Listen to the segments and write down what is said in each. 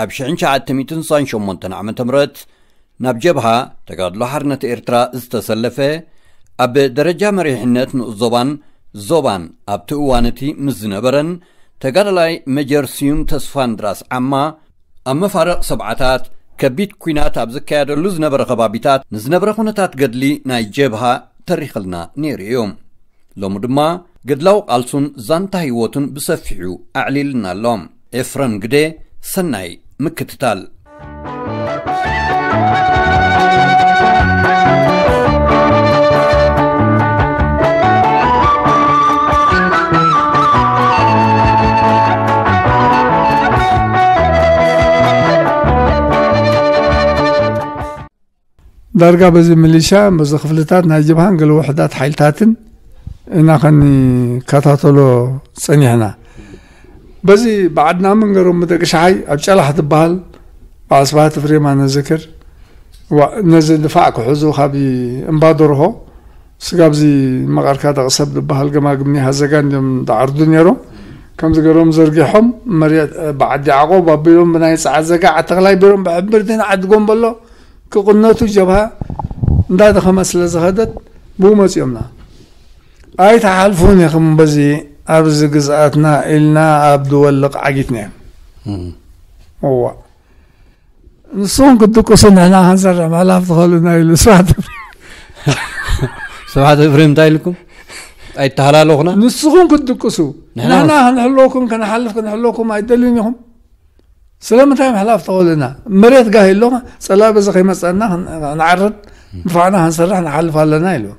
ኣብ ሽሕን ሸዓተ ሚእትን ስሳን ሸሞንተን ዓመተ ምረት ናብ ጀብሃ ተጋድሎ ሓርነት ኤርትራ ዝተሰለፈ ኣብ ደረጃ መሪሕነት ንኡስ ዞባን ዞባን ኣብቲ እዋን እቲ ምስ ዝነበረን ተጋዳላይ መጀር ስዩም ተስፋንድራስ ዓማ ኣብ መፋርቕ ሰብዓታት ከቢድ ኲናት ኣብ ዝካየደሉ ዝነበረ ከባቢታት ንዝነበረ ኩነታት ገድሊ ናይ ጀብሃ ተሪኽልና ነይሩ እዩ። ሎሚ ድማ ገድላዊ ቃልሱን ዛንታ ህይወቱን ብሰፊሑ ኣዕሊልና ኣሎ ኤፍረም ግደ። ሰናይ ምክትታል። ዳርጋ በዚ ምልሻ በዚ ክፍልታት ናይ ጀብሃን ገለ ውሕዳት ሓይልታትን እና ከንከታተሎ ፀኒሕና በዚ ባዕድና መንገሮም ደቂ ሸሓይ ኣብ ጨላሕ ትበሃል በዓል ስብሃት ፍሬማ ነዝክር ነዚ ድፋዕ ክሕዙ ካብ እምባ ደርሆ ስጋብ እዚ መቐርካ ደቒ ሰብ ዝበሃል ገማግም ኒሃዘጋን እዮም ዝዓርዱ ነይሮም። ከምዚ ገሮም ዘርጊሖም መሬት ብዓዲ ዓቖብ ኣቢሎም ብናይ ጸዓት ዘጋ ዓተቕላይ ቢሮም ብሕብርቲ ንዓዲ ጎምበሎ ክቕነቱ ጀብሃ እንዳደኸመት ስለ ዝኸደት ብኡ መጺኦምና። ኣይትሓልፉን ኢኹም በዚ ኣብዚ ግዝኣትና ኢልና ኣብ ድወልቕ ዓጊትና እዮም። እዋእ! ንስኹም ክትድቅሱ ንሕና ክንሰርሕ ምሕላፍ ትኸእሉና ኢሉ ስብሓት ስብሓት እብርሂም እንታይ ኢልኩም ኣይተሃላለኹና ንስኹም ክትድቅሱ ንሕና ክንሕለወኩም ክንሓልፍ ክንሕለወኩም ኣይደልን ኢኹም ስለምንታይ ምሕላፍ ተኸእሉና መሬት ጋሂ ኣሎኻ ፀላኢ በዚ ከይመፀና ንዓርብ ንፋዕና ክንሰርሕ ንሓልፍ ኣለና ኢልዎም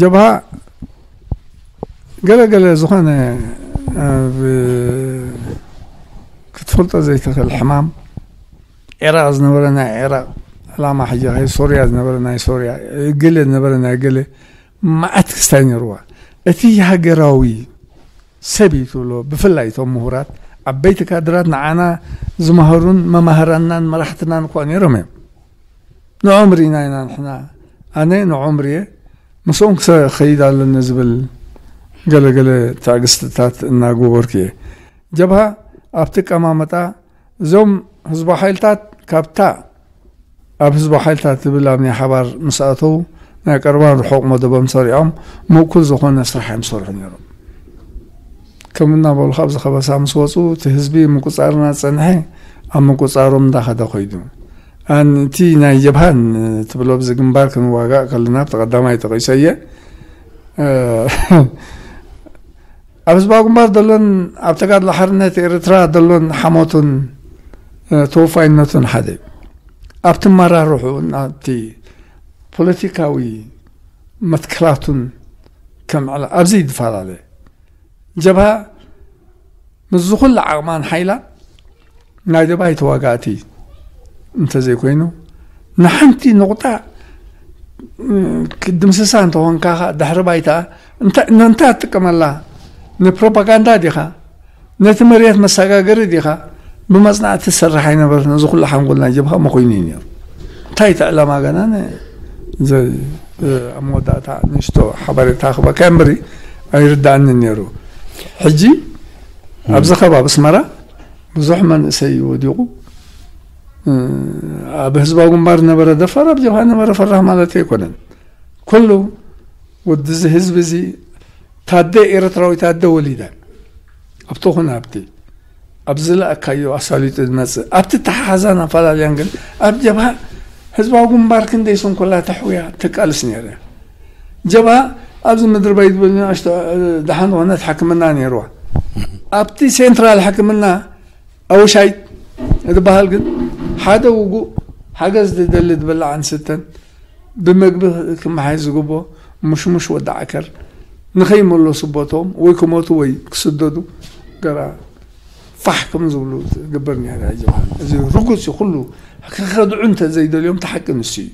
ጀብሃ ገለ ገለ ዝኾነ ኣብ ክትፈልጦ ዘይትኽእል ሕማም ዒራቕ ዝነበረ ናይ ዒራቕ ዕላማ ሕጂ ከይ ሶርያ ዝነበረ ናይ ሶርያ ገለ ዝነበረ ናይ ገለ መዓት ክስታይ ነይርዋ እቲ ሃገራዊ ሰብ እዩ ትብሎ ብፍላይ እቶም ምሁራት ዓበይቲ ካድራት ንዓና ዝመሃሩን መማህራናን መራሕትናን እኳ ነይሮም እዮም ንዖም ሪኢና ኢና ንሕና ኣነ ንዖም ሪኤ ምስኦም ክኸይድ ኣለኒ ዝብል ገለ ገለ ትዕግስትታት እናገበርኩ እየ። ጀብሃ ኣብቲ ኣቀማምጣ እዞም ህዝባዊ ሓይልታት ካብታ ኣብ ህዝባዊ ሓይልታት ዝብል ኣብ ናይ ሓባር ምስ ኣተዉ ናይ ቀረባን ርሑቕ መደቦም ሰሪዖም ምእኩል ዝኾነ ስራሕ እዮም ዝሰርሑ ነይሮም። ከም እናበሉ ካብዚ ከበሳ ምስ ወፁ እቲ ህዝቢ ምቁፃርና ዝፀንሐ ኣብ ምቁፃሮም እንዳኸደ ኮይዱ ኣን እቲ ናይ ጀብሃን ትብሎ ብዚ ግንባር ክንዋጋእ ከለና ብቲ ቀዳማይ ጠቂሰ እየ ኣብ ህዝባዊ ግንባር ዘሎን ኣብ ተጋድሎ ሓርነት ኤርትራ ዘሎን ሓሞቱን ተወፋይነቱን ሓደ እዩ ኣብቲ መራርሑን ኣብቲ ፖለቲካዊ መትከላቱን ከምዕላ ኣብዚ ይፈላለ ጀብሃ ምስዚ ኩሉ ዓቕማን ሓይላን ናይ ደባይ ተዋጋእቲ እንተዘይኮይኑ ንሓንቲ ንቑጣ ክድምስሳ እንተኾንካ ኸ ድሕሪ ባይታ ንእንታይ ትጥቀመላ ንፕሮፓጋንዳ ዲኻ ነቲ መሬት መሰጋገሪ ዲኻ ብመፅናዕቲ ትሰርሕ ኣይነበርን እዚ ኩሉ ሓንጎል ናይ ጀብሃ መኮይኑ እዩ ነይሩ እንታይ እቲ ዕላማ ገና ኣብ መወዳእታ ንእሽቶ ሓበሬታ ክበካ እምበሪ ኣይርድኣንን ነይሩ ሕጂ ኣብዚ ከባቢ ኣስመራ ብዙሕ መንእሰይ እዩ ወዲቑ ኣብ ህዝባዊ ግንባር ነበረ ደፋር ኣብ ጀብሃ ነበረ ፈራህ ማለት ኣይኮነን ኩሉ ወዲ እዚ ህዝቢ እዚ ታደ ኤርትራዊት ኣደ ወሊዳ ኣብቲ ኹን ኣብቲ ኣብ ዝለኣካዮ ኣሳሊጡ ዝመጽእ ኣብ ትተሓሓዛን ኣፋላልያን ግን ኣብ ጀብሃ ህዝባዊ ግንባር ክንደይ ስንኩላት ኣሕውያ ተቃልስ ነይራ እያ። ጀብሃ ኣብዚ ምድርባይ ዝበሉ ንኣሽቶ ደሓን ዝኾነት ሕክምና ነይርዋ። ኣብቲ ሴንትራል ሕክምና ኣውሻይት ዝበሃል ግን ሓደ ውጉእ ሓገዝ ዝደሊ ዝበላዕን ዝስተን ብመግቢ ክመሓየሽ ዝግብኦ ሙሽሙሽ ወዲ ዓከር ንኸይመለሱ ቦትኦም ወይ ክሞቱ ወይ ክስደዱ ገራ ፋሕ ከም ዝብሉ ትግበር ነይራ እያ ጀብሃ። እዚ ርጉጽ እዩ ኩሉ ክኸድዑ እንተ ዘይደልዮም እቲ ሓቂ ንሱ እዩ።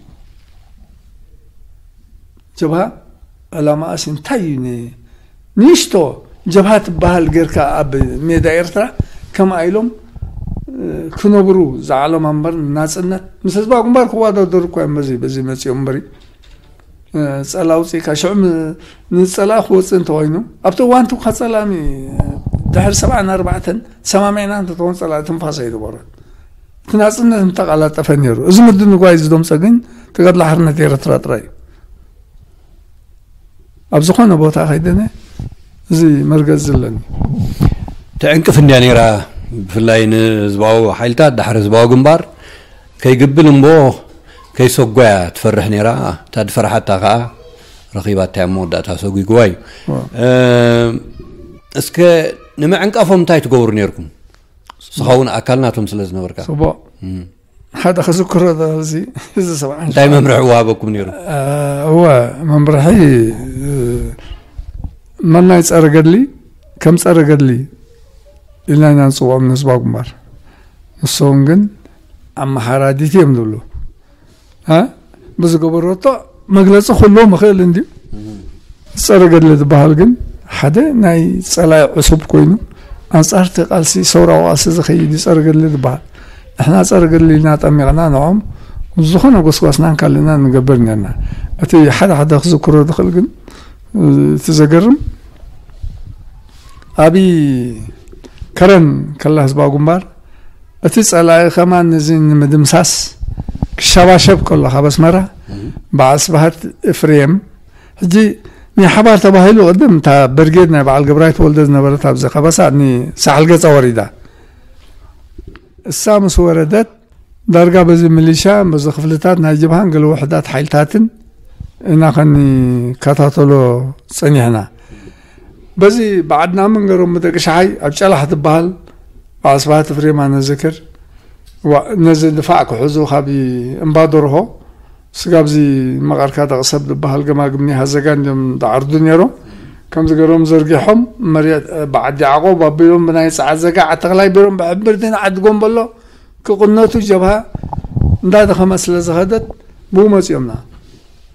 ጀብሃ ዕላማኣስ እንታይ እዩ ን ንእሽቶ ጀብሃ ትብሃል ገርካ ኣብ ሜዳ ኤርትራ ከምኣ ኢሎም ክነብሩ ዝዓለማ እምበር ናጽነት ምስ ህዝባዊ ግንባር ክወዳደሩ እኳ እዮም በዚ በዚ መጺኦም እምበሪ ጸላ ውጽኢካ ሽዑ ንጸላ ክወጽእ እንተኮይኑ ኣብቲ እዋን ትኳ ጸላ ድሕሪ ሰብዓን ኣርባዕተን ሰማሚዕና እንተትኾን ጸላ ትንፋስ ኣይነበሮን እቲ ናጽነት እንተቀላጠፈ ነይሩ እዚ ምድንጓይ ዝደምፀ ግን ተጋድሎ ሓርነት ኤርትራ ጥራይ እዩ ኣብ ዝኾነ ቦታ ከይደነ እዚ መርገፅ ዝለኒ ትዕንቅፍ እንድያ ነይራ ብፍላይ ንህዝባዊ ሓይልታት ዳሕሪ ህዝባዊ ግንባር ከይግብል እምቦ ከይሰጓያ ትፈርሕ ነይራ እታ ድፈርሓታ ከዓ ረኺባታ እያ መወዳእታ ሰጒግዋ እዩ እስከ ንምዕንቃፎም እንታይ ትገብሩ ነይርኩም ስኸውን ኣካል ናቶም ስለ ዝነበርካ ፅቡቅ ሓደ ክዝክሮ እዚ እዚ ሰብዓ እንታይ መምርሒ ወሃበኩም ነይሩ እወ መምርሒ መናይ ፀረ ገድሊ ከም ፀረ ገድሊ ኢልና ኢና ንፅውዖም ንህዝባዊ ግንባር ንሶም ግን ኣመሓራዲቲ እዮም ዝብሉ ብዝገበረቶ መግለፂ ክህልዎ ምኽእል እንድዩ ፀረ ገድሊ ዝበሃል ግን ሓደ ናይ ፀላኢ ዕሱብ ኮይኑ ኣንፃርቲ ቃልሲ ሰውራዊ ቃልሲ ዝኸይድ እዩ ፀረ ገድሊ ዝበሃል ንሕና ፀረ ገድሊ ኢልና ጠሚቕና ንዖም ዝኾነ ጎስጓስናን ካልእና ንገብር ነርና እቲ ሓደ ሓደ ክዝክሮ ዝኽእል ግን እቲ ዘገርም ኣብይ ከረን ከላ ህዝባዊ ግንባር እቲ ጸላኢ ከማን ነዚ ንምድምሳስ ክሸባሸብ ከሎ ካብ ኣስመራ በዓል ስብሃት እፍርየም ሕጂ ናይ ሓባር ተባሂሉ ቅድም እታ ብርጌድ ናይ በዓል ገብራይ ተወልደ ዝነበረት ኣብዚ ከበሳ ንሳሕል ገጻ ወሪዳ እሳ ምስ ወረደት ዳርጋ በዚ ሚሊሻ በዚ ክፍልታት ናይ ጅብሃን ገለ ውሕዳት ሓይልታትን እና ከንከታተሎ ጸኒሕና በዚ ብዓድና መንገሮም ብደቂ ሸሓይ ኣብ ጨላሕ ትበሃል ብኣስባሃት ፍሬማ ነዝክር ዋእ ነዚ ድፋዕ ክሕዙ ካብ እምባ ደርሆ ስጋብዚ መቐርካ ደቂ ሰብ ዝበሃል ገማግም ኒሃዘጋ እንዲዮም ዝዓርዱ ነይሮም ከምዚ ገሮም ዘርጊሖም መሬት ብዓዲ ዓቆብ ኣቢሎም ብናይ ፀዓት ዘጋ ዓተቕላይ ቢሮም ብሕብርቲ ንዓዲ ጎምበሎ ክቕነቱ ጀብሃ እንዳደኸመ ስለ ዝኸደት ብኡ መፂኦምና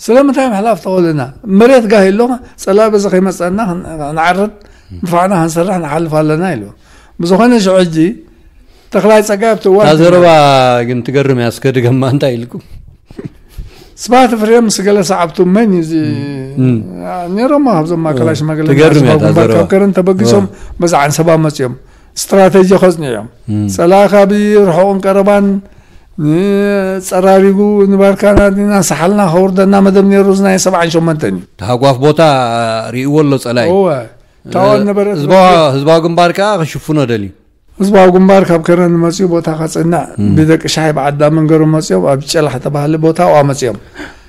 ስለምንታይ ምሕላፍ ተኸሉና መሬት ጋሂ ኣሎ ፀላኢ በዚ ከይመፀና ክንዓርብ ንፋዕና ክንሰርሕ ንሓልፍ ኣለና ኢሉ ብዝኾነ ሽዑ ሕጂ ተክላይ ፀጋይ ኣብቲ እዋን ዘረባ ግን ትገርም እያ እስከ ድገማ እንታይ ኢልኩም ስብሓት ፍሬም ምስ ገለ ሰዓብቱ መን እዩ ነይሮማ ካብዞም ማእከላይ ሽማግለ ትገርም እያ እታ ዘረባ ከርን ተበጊሶም በዚ ዓንሰባ መፅኦም ስትራተጂ ከጽንዑ እዮም ጸላኢ ካብ ርሑቕን ቀረባን ንፀራሪጉ ንባርካና ዲና ሰሓልና ከውርደና መደብ ነይሩ እዚ ናይ ሰብዓን ሸመንተን እዩ ተሃጓፍ ቦታ ርእይዎ ኣሎ ፀላይ ታዋን ነበረ ህዝባዊ ግንባር ከዓ ክሽፍኖ ደልዩ ህዝባዊ ግንባር ካብ ከረን መፅኡ ቦታ ከፅንዕ ብደቂ ሻሂ ብዓዳ መንገሩ መፅኦም ኣብ ጨላሕ ተባሃለ ቦታ ኣብኣ መፅኦም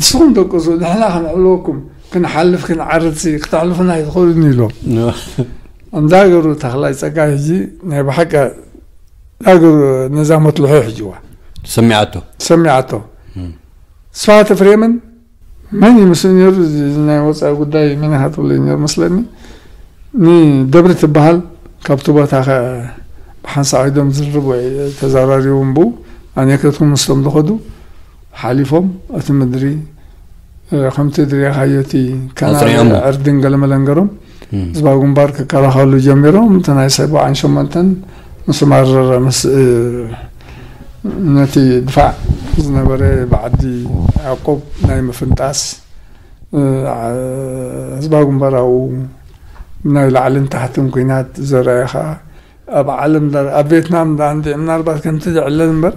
ንስኹም ደቅሱ ንሕና ክንዕልወኩም ክንሓልፍ ክንዓርድሲ ክተሕልፉና ኣይትኽእሉን ኢሎም እንዳገሩ ተኽላይ ፀጋይ ሕጂ ናይ ብሓቂ ዳገሩ ነዛ መትልሖ ሕጅዋ ሰሚዓቶ ሰሚዓቶ ስፋት ፍሬምን መን ይምስሉ ነሩ ናይ ወፃኢ ጉዳይ መን ኢኻ ትብሉ ነሩ መስለኒ ንደብሪ ትበሃል ካብቲ ቦታ ከ ብሓንሳዕ ኢዶም ዝርርብ ወይ ተዘራሪቦም ብኡ ኣነ ከትኩም ምስሎም ዝኸዱ ሓሊፎም እቲ ምድሪ ከምቲ ድሪኻዮ እቲ ከናን ዕርድን ገለመለን ገሮም ህዝባዊ ግንባር ክከላኸሉ ጀሚሮም እቲ ናይ ሰይ በዓን ሸሞንተን ምስ ማረረ ምስ ነቲ ድፋዕ ዝነበረ ብዓዲ ያዕቆብ ናይ ምፍንጣስ ህዝባዊ ግንባር ኣብኡ ናይ ላዕልን ታሕትን ኩናት ዘረኣየ ከዓ ኣብ ዓለም ዳርጋ ኣብ ቬትናም ድኣ እንድዒ ምናልባት ከምቲ ዝዕለል እምበር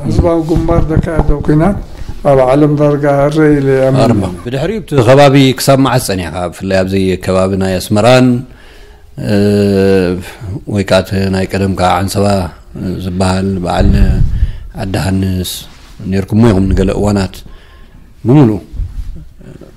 ህዝባዊ ግንባር ዘካየዶ ኩናት ኣብ ዓለም ዳርጋ እረ ኢለ ይኣምን ብድሕሪኡ እቲ ከባቢ ክሳብ መዓስ ፀኒሕካ ብፍላይ ኣብዚ ከባቢ ናይ ኣስመራን ወይ ከዓ እቲ ናይ ቀደም ከዓ ዓንሰባ ዝበሃል በዓል ዓዲ ሃንስ ነርኩሞ ኢኹም ንገለ እዋናት ብምሉእ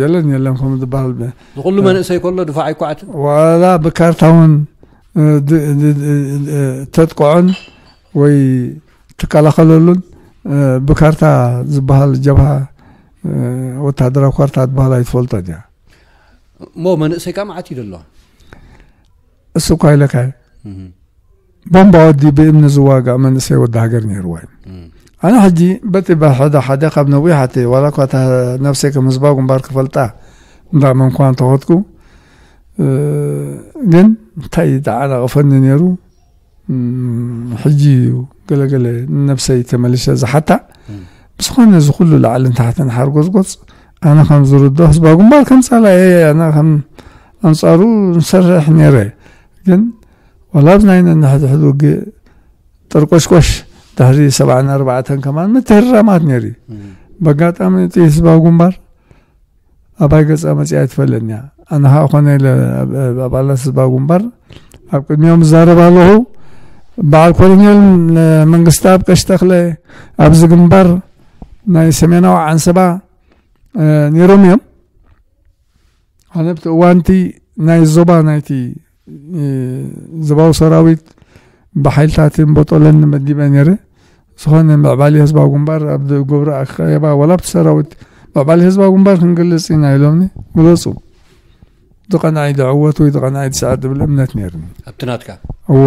የለን የለን ከም ዝበሃል ንኩሉ መንእሰይ ከሎ ድፋዕ ኣይኳዓትን ዋላ ብካርታ እውን ተጥቅዖን ወይ ትከላኸለሉን ብካርታ ዝበሃል ጀብሃ ወታደራዊ ካርታ ዝበሃል ኣይትፈልጦን እያ እሞ መንእሰይ ከዓ መዓት እዩ ደለዋ እሱ እኳ ኢለካ እዩ ቦምባ ወዲ ብእምኒ ዝዋጋእ መንእሰይ ወዲ ሃገር ነይርዎ እዩ ኣነ ሕጂ በቲ ብሓደ ሓደ ካብ ነዊሓቲ ዋላ እኳ ነብሰይ ከም ህዝባዊ ግንባር ክፈልጣ እንዳመንኳ እንተኸትኩ ግን እንታይ ዝዓናቕፈኒ ነይሩ ሕጂ እዩ ገለገለ ነብሰይ ተመሊሰ ዝሓታ ብዝኾነ እዚ ኩሉ ላዕልን ታሕትን ሓርጎዝጎፅ ኣነ ከም ዝርዶ ህዝባዊ ግንባር ከም ፃላየ ኣነ ከም ኣንፃሩ ንሰርሕ ነይረ ግን ዋላ ኣብ ናይ ነንሕድሕድ ውግእ ጠርቆሽቆሽ ድሕሪ ሰብዓን ኣርባዕተን ከማን ምትህርራማት ነይሩ እዩ በጋጣሚ እቲ ህዝባዊ ግንባር ኣባይ ገፃ መፅያ ኣይትፈለኒ እያ ኣነ ከዓ ኮነ ኢለ ኣባላት ህዝባዊ ግንባር ኣብ ቅድሚኦም ዛረብ ኣለኹ በዓል ኮሎኔል መንግስታብ ቀሽ ተክለ ኣብዚ ግንባር ናይ ሰሜናዊ ዓንሰባ ነይሮም እዮም ኣነ ብቲ እዋንቲ ናይ ዞባ ናይቲ ዞባዊ ሰራዊት ብሓይልታትን ቦጦለን መዲበ ነይረ ዝኾነ ምዕባሊ ህዝባዊ ግንባር ኣብ ገብረ ኣካየባ ወላ ኣብቲ ሰራዊት ምዕባሊ ህዝባዊ ግንባር ክንገልፅ ኢና ኢሎምኒ ግለፁ ዝቐንዐ ድዕወት ወይ ዝቐንዐ ድስዕር ዝብል እምነት ነይርኒ ኣብቲ ናትካ እወ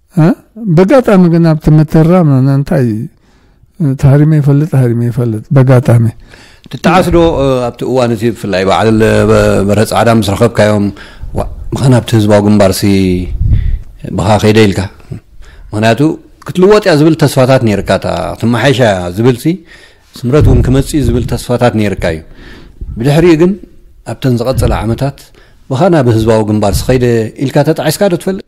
በጋጣሚ ግን ኣብቲ ምትራም እንታይ ተሃሪመ ይፈልጥ ተሃሪመ ይፈልጥ በጋጣሚ ትጠዓስ ዶ ኣብቲ እዋን እዚ ብፍላይ በዓል በረ ፃዕዳ ምስ ረኸብካዮም ምኻን ኣብቲ ህዝባዊ ግንባርሲ ብኻ ከይደ ኢልካ ምክንያቱ ክትልወጥ እያ ዝብል ተስፋታት ነይርካ እታ ክትመሓይሻ ዝብልሲ ስምረት እውን ክመፅእ ዝብል ተስፋታት ነይርካ እዩ ብድሕሪኡ ግን ኣብተን ዝቐፀላ ዓመታት ብኻ ናብ ህዝባዊ ግንባር ስኸይደ ኢልካ ተጣዒስካ ዶ ትፈልጥ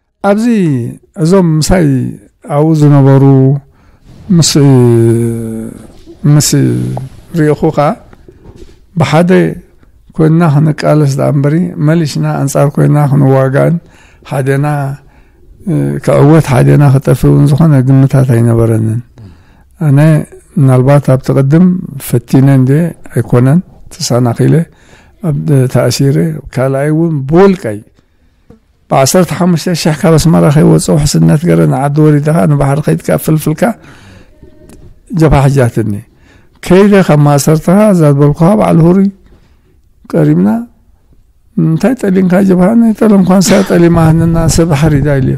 ኣብዚ እዞም ምሳይ ኣብኡ ዝነበሩ ምስ ምስ ርኢኹ ከዓ ብሓደ ኮይንና ክንቃለስ ዳኣ እምበሪ መሊስና ኣንጻር ኮይና ክንዋጋእን ሓደና ክዕወት ሓደና ክጠፍእን ዝኾነ ግምታት ኣይነበረንን ኣነ ምናልባት ኣብቲ ቅድም ፈቲነ እንደ ኣይኮነን ተሰናኺለ ኣብ ተኣሲረ ካልኣይ እውን ብውልቀይ ብ ዓሰርተ ሓሙሽተ ሽሕ ካብ ኣስመራ ከይወጽኡ ሕስነት ገረ ንዓዲ ወሪደ ከኣ ንባሕሪ ከይድ ከኣ ፍልፍልካ ጀብሃ ሕጃትኒ ከይደ ካብ ማእሰርትኻ እዛ ዝበልኩኻ በዓል ሁሩይ ቀሪብና እንታይ ጠሊምካ ጀብሃ ንጠለምኳንሳ ጠሊማ ሃንና ሰብ ሓሪዳ ኢልዮ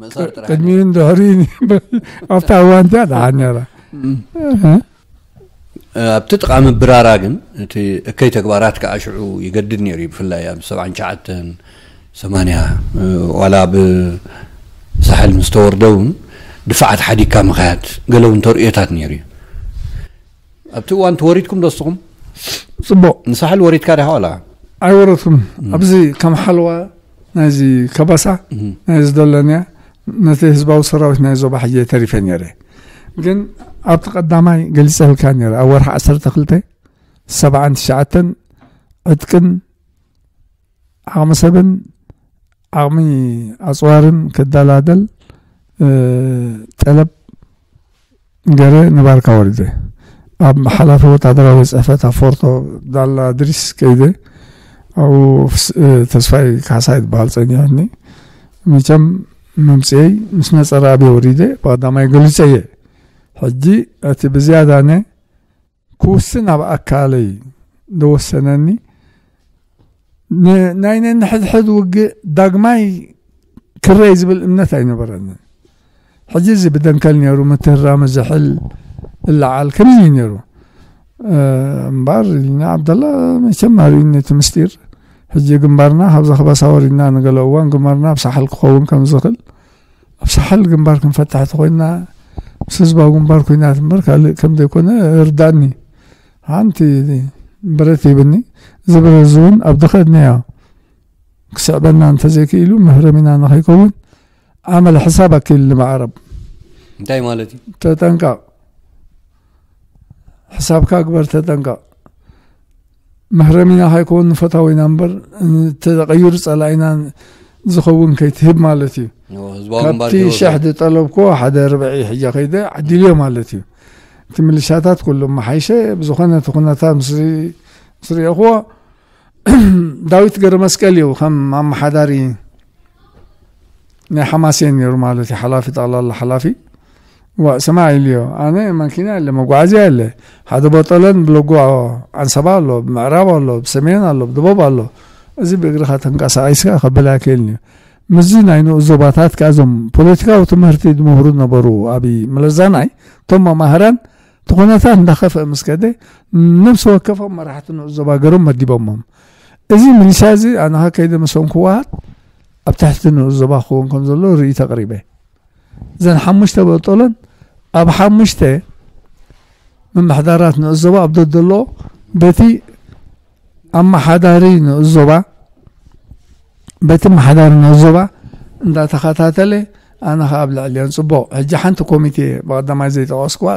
ምእሳር ጥራሕ ቅድሚኡን ድሕሪኡን ኣብቲ ኣዋንቲ እያ ድሓን ነራ ኣብቲ ጥቃ ምብራራ ግን እቲ እከይ ተግባራት ከዓ ሽዑ ይገድድ ነይሩ እዩ ብፍላይ ኣብ ሰብዓን ሸዓተን ሰማንያ ዋላ ኣብ ሳሕል ምስ ተወርደ እውን ድፋዓት ሓዲግካ ምክያድ ገለ እውን ተርእዮታት ነይሩ እዩ ኣብቲ እዋን ተወሪድኩም ዶ ንስኹም ፅቡቅ ንሳሕል ወሪድካ ዲኻ ዋላ ኣይወረድኩም ኣብዚ ከም ሓለዋ ናይዚ ከበሳ ናይዚ ደለንያ ነቲ ህዝባዊ ሰራዊት ናይ ዞባ ሕጂ ተሪፈ ነይረ ግን ኣብቲ ቀዳማይ ገሊፀልካ ነይረ ኣብ ወርሒ ዓሰርተ ክልተ ሰብዓን ትሽዓተን ዕጥቅን ዓቕሚ ሰብን ዓቕሚ ኣፅዋርን ክደላደል ጠለብ ገሬ ንባርካ ወሪደ ኣብ ሓላፊ ወታደራዊ ቤት ፅሕፈት ኣብ ፎርቶ ዳላ ድሪስ ከይደ ኣብኡ ተስፋይ ካሕሳይ ዝበሃል ፀኒሑኒ መቸም መምፅኤይ ምስ ነፀረ ኣብየ ወሪደ ብቀዳማይ ገሊፀ እየ ሕጂ እቲ ብዝያዳ ነ ክውስን ኣብ ኣካለይ ዝወሰነኒ ናይ ነንሕድሕድ ውግእ ዳግማይ ክረይ ዝብል እምነት ኣይነበረንን ሕጂ እዚ ብደንከል ነይሩ ምትህራመ ዘሕል እለዓል ከምዚ እዩ ነይሩ እምበር ሊና ዓብደላ መቸም ኣርእኒ እቲ ምስጢር ሕጂ ግንባርና ካብዛ ክባሳ ወሪድና ንገለ እዋን ግንባርና ኣብ ሳሕል ክኸውን ከም ዝኽእል ኣብ ሳሕል ግንባር ክንፈታሕ ተኮይና ምስ ህዝባዊ ግንባር ኩናት እምበር ካልእ ከም ዘይኮነ ርዳእኒ ሓንቲ ብረት ሂብኒ እዚ ብረት እዚ እውን ኣብ ድኸድናዮ ክስዕበና እንተዘይክኢሉ ምህረም ኢና ንኸይከውን ኣመል ሕሳብ ኣኪል ንማዕረብ እንታይ ማለት እዩ ተጠንቀቕ ሕሳብካ ግበር ተጠንቀቕ መህረሚና ካይኮን ንፈታዊና እምበር ተቐይሩ ፀላኢና ዝኸውን ከይትህብ ማለት እዩ ካብቲ ሽሕ ዝጠለብኮ ሓደ ርብዒ ሕጃ ከይደ ዓዲልዮ ማለት እዩ እቲ ምልሻታት ኩሉ መሓይሸ ብዝኾነ እቲ ኩነታት ምስ ርኢኹዎ ዳዊት ገረ መስቀል እዩ ከም ኣመሓዳሪ ናይ ሓማስ እየ ነይሩ ማለት እዩ ሓላፊ ጠቕላላ ሓላፊ ዋእ ስማዕ ኢልዮ ኣነ መኪና የለ መጓዓዝያ የለ ሓደ ቦጠለን ብለጎ ዓንሰባ ኣሎ ብምዕራብ ኣሎ ብሰሜን ኣሎ ብደቡብ ኣሎ እዚ ብእግርኻ ተንቀሳቒስካ ከበላ ኣይክእልን እዩ ምስዚ ናይ ንኡ ዞባታት ከዓ እዞም ፖለቲካዊ ትምህርቲ ዝምህሩ ነበሩ ኣብ መለዛናይ እቶም መማህራን እቲ ኩነታት እንዳኸፍአ ምስ ከደ ነብሲ ወከፎም መራሕቲ ንኡ ዞባ ገሮም መዲቦሞም እዚ ሚሊሻ እዚ ኣነኻ ከይደ ምሶም ክወሃድ ኣብ ትሕቲ ንኡስ ዞባ ክኸውን ከም ዘለዎ ርእይቶ ኣቕሪበ። እዘን ሓሙሽተ በጦለን ኣብ ሓሙሽተ ምምሕዳራት ንኡስ ዞባ ኣብ ደደሎ በቲ ኣመሓዳሪ ንኡስ ዞባ በቲ ኣመሓዳሪ ንኡስ ዞባ እንዳተኸታተለ ኣነ ከዓ ኣብ ልዕሊኦን ፅቡቕ ሕጂ ሓንቲ ኮሚቴ ብቐዳማይ ዘይጠቐስኩዋ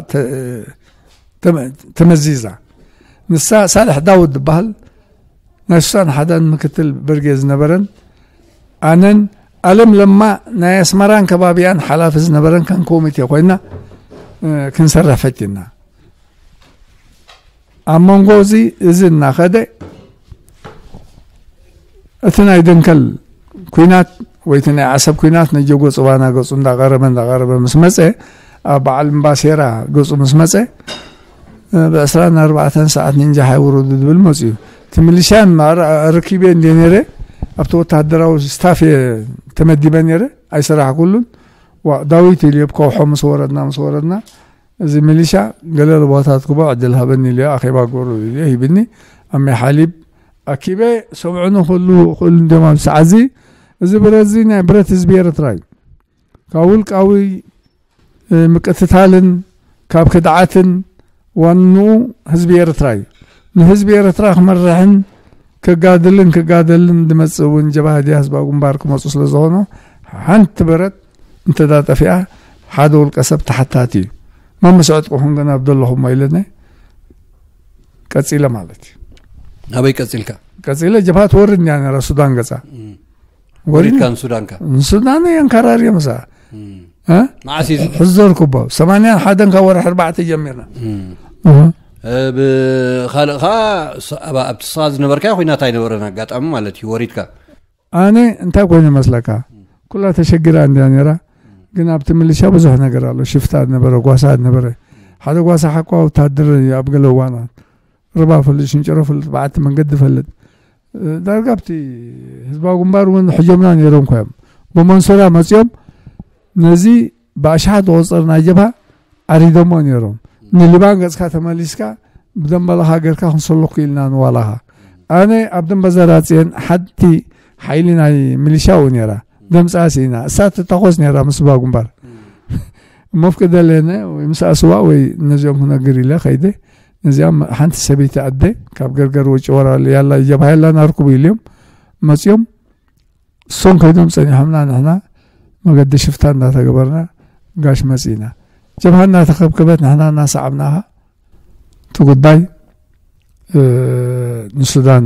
ተመዚዛ ንሳ ሳልሕ ዳውድ ዝበሃል ነሳን ሓዳን ምክትል ብርጌድ ዝነበረን ኣነን ኣለም ለማ ናይ ኣስመራን ከባቢያን ሓላፊ ዝነበረን ከም ኮሚቴ ኮይና ክንሰርሕ ፈቲና ኣብ መንጎ እዚ እዚ እናኸደ እቲ ናይ ደንከል ኩናት ወይ እቲ ናይ ዓሰብ ኩናት ነጀጎ ፅባና ገፁ እንዳቀረበ እንዳቀረበ ምስ መፀ ኣብ በዓል እምባሴራ ገፁ ምስ መፀ ብዕስራን ኣርባዕተን ሰዓት ኒንጃ ሓይ ውረዱ ዝብል መፅዩ እቲ ምልሻ ኣረኪበ እንደ ነይረ ኣብቲ ወተሃደራዊ ስታፍ እየ ተመዲበ ነይረ ኣይሰራሕኩሉን ዳዊት ኢሉ ኣብ ከውሖ ምስ ወረድና ምስ ወረድና እዚ ምልሻ ገለ ቦታት ክቦ ዕድል ሃበኒ ኢሉ ኣኼባ ገሩ ኢሉ ሂብኒ ኣብ ማይ ሓሊብ ኣኪበ ሰምዑኒ ክሉ ክእሉ እንዲም ኣብ ሰዓት እዚ እዚ ብረት እዚ ናይ ብረት ህዝቢ ኤርትራ እዩ ካብ ውልቃዊ ምቅትታልን ካብ ክድዓትን ዋንኡ ህዝቢ ኤርትራ እዩ ንህዝቢ ኤርትራ ክመርሕን ክጋድልን ክጋደልን ዝመፅእ እውን ጀብሃ ድያ ህዝባዊ ግንባር ክመፁ ስለ ዝኾኑ ሓንቲ ብረት እንተዳ ጠፊኣ ሓደ ውልቀ ሰብ ተሓታቲ እዩ መምስዕጥቑኹም ግን ኣብ ዘለኹሞ ኢለነ ቀፂለ ማለት እዩ ኣበይ ቀፂልካ ቀፂለ ጀብሃ ትወርድ እያ ነራ ሱዳን ገፃ ወሪድካ ንሱዳንካ ንሱዳን የንከራርዮ ምሳ መዓስ እዩ ሕዘርኩቦ ሰማንያ ሓደን ካብ ወርሒ ኣርባዕተ ጀሚርና ብካልእ ከዓ ኣብቲ ስኻ ዝነበርካ ኮይናት ኣይነበረን ኣጋጣሚ ማለት እዩ ወሪድካ ኣነ እንታይ ኮይኑ መስለካ ኩላ ተሸጊራ እንድያ ነራ ግን ኣብቲ ምልሻ ብዙሕ ነገር ኣሎ ሽፍታ ነበረ ጓሳ ነበረ ሓደ ጓሳ ሓኳ ወታደር ኣብ ገለ እዋናት ርባ እፈልጥ ሽንጭሮ እፈልጥ በዓቲ መንገዲ እፈልጥ ዳርጋ ኣብቲ ህዝባዊ ግንባር እውን ሕጆምና ነይሮም እኮ እዮም ብመንሶራ መፅኦም ነዚ ብኣሽሓት ዝቆፀር ናይ ጀብሃ ዓሪዶሞ ነይሮም ንሊባን ገፅካ ተመሊስካ ብደንበላኻ ገርካ ክንሰለኩ ኢልና ንዋላኻ ኣነ ኣብ ደንበ ዘራፅየን ሓቲ ሓይሊ ናይ ሚሊሻ ው ነራ ደምፃ ስኢና እሳ ትታኮስ ነራ ምስ ህዝባዊ ግንባር መፍቅደለነ ወይ ምስ ኣስዋ ወይ ነዚኦም ክነግር ኢለ ከይደ እዚኣም ሓንቲ ሰበይቲ ኣደ ካብ ገርገር ወጭወራ ያላ ጀብሃ ያላ ናርኩቡ ኢልዮም መፅኦም እሶም ከይዶም ፀኒሖምና ንሕና መገዲ ሽፍታ እናተገበርና ጋሽ መፂና ጀብሃ እናተከብከበት ንሕና እናሰዓብናኻ እቲ ጉዳይ ንሱዳን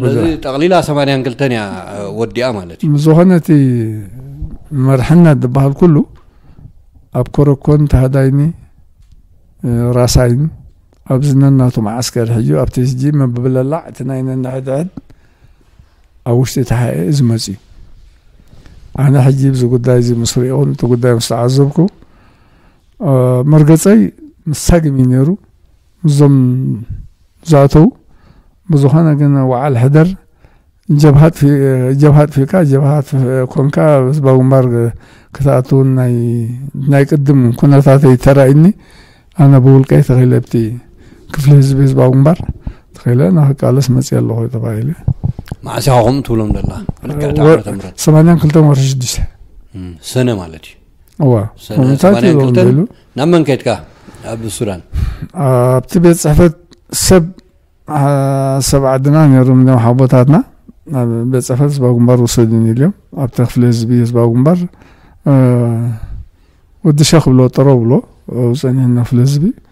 ስለዚ ጠቕሊላ ሰማንያን ክልተን እያ ወዲኣ ማለት እዩ ዝኾነ እቲ መርሕነት ዝበሃል ኩሉ ኣብ ኮረኮን ተሃዳይኒ ራሳይን ኣብዚ ነናቱ መዓስከር ሕዩ ኣብቲ ህጂ ምብብለላዕ እቲ ናይ ነንሕድሕድ ኣብ ውሽጢ ተሓኤ እዩ ዝመፅዩ ኣነ ሕጂ እዚ ጉዳይ እዚ ምስ ሪኦን እቲ ጉዳይ ምስ ተዓዘብኩ መርገፀይ ምሳግም እዩ ነይሩ ምስዞም ዝኣተው ብዝኾነ ግን ወዓል ሕደር ጀብሃ ኣጥፊእካ ጀብሃ ኮንካ ህዝባዊ ግንባር ክትኣትውን ናይ ቅድም ኩነታተይ ተራእዩኒ ኣነ ብውልቀይ ተኺለ ብቲ ክፍሊ ህዝቢ ህዝባዊ ግንባር ተኺለ ንክቃለስ መፅእ ኣለኹ ተባሂለ መዓስ ኢኻ ከምኡ ትብሎም ደላ ሰማንያን ክልተን ወርሒ ሽዱሽተ ሰነ ማለት እዩ ናብ መን ከድካ ኣብ ሱዳን ኣብቲ ቤት ፅሕፈት ሰብ ሰብ ዓድና ነሩ ም ሓቦታትና ናብ ቤት ፅሕፈት ህዝባዊ ግንባር ውሰድኒ ኢልዮም ኣብቲ ክፍሊ ህዝቢ ህዝባዊ ግንባር ወዲ ሸክ ብሎ ጠሮ ብሎ ውፅእኒ ናብ ክፍሊ ህዝቢ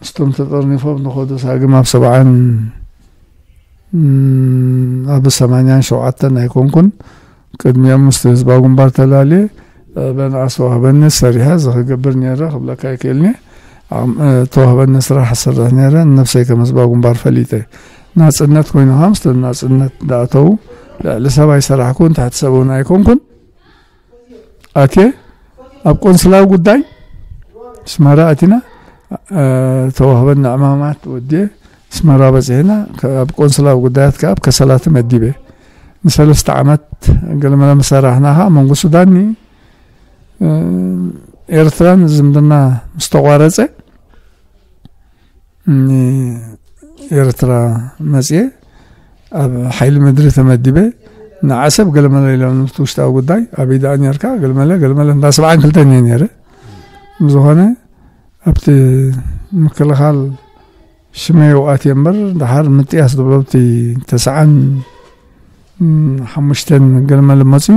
ምስቶም ተጠርኒፎም ንኸዱ ሳግም ኣብ ሰብዓን ኣብ ሰማንያን ሸውዓተን ኣይኮንኩን ቅድሚኦም ምስቲ ህዝባዊ ግንባር ተላልየ በን ኣስተዋህበኒ ሰሪሐ እዚ ክገብር ነይረ ክብለካ ኣይክእልኒ ተዋህበኒ ስራሕ ዝሰርሕ ነረ ነብሰይ ከም ህዝባዊ ግንባር ፈሊጠ ናፅነት ኮይኑ ሃምስተ ናፅነት ዳእተው ልዕሊ ሰብ ኣይሰራሕኩን ትሕቲ ሰብ እውን ኣይኮንኩን ኣትየ ኣብ ቆንስላዊ ጉዳይ ስመራ ኣቲና ተዋህበና ዕማማት ወድየ ስመራ በፂሕና ኣብ ቆንስላዊ ጉዳያት ከዓ ኣብ ከሰላ ተመዲበ ንሰለስተ ዓመት ገለመለ መሰራሕና ከዓ መንጎ ሱዳን ኤርትራን ዝምድና ምስ ተቋረፀ ንኤርትራ መፅየ ኣብ ሓይሊ ምድሪ ተመዲበ ንዓሰብ ገለመለ ኢሎም ቲ ውሽጣዊ ጉዳይ ኣበይ ደኣ ነርካ ገለመለ ገለመለ እንዳ ሰብዓን ክልተን እየ ነይረ ብዝኾነ ኣብቲ ምክልኻል ሽመይ ውኣት እየ እምበር ድሓር ምጥያስ ዝብሎብቲ ተስዓን ሓሙሽተን ገለመለ መፅዩ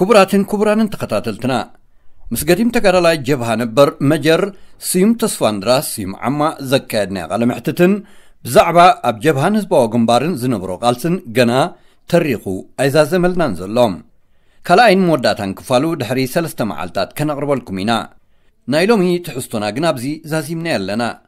ክቡራትን ክቡራንን ተኸታተልትና ምስ ገዲም ተጋዳላይ ጀብሃ ነበር መጀር ስዩም ተስፋንድራ ስዩም ዓማ ዘካየድናዮ ቃለ መሕትትን ብዛዕባ ኣብ ጀብሃን ህዝባዊ ግንባርን ዝነበሮ ቃልስን ገና ተሪኹ ኣይዛዘመልናን ዘሎ ካልኣይን መወዳእታን ክፋሉ ድሕሪ ሰለስተ መዓልታት ከነቕርበልኩም ኢና ናይ ሎሚ ትሕዝቶና ግን ኣብዚ ዛዚምናዮ ኣለና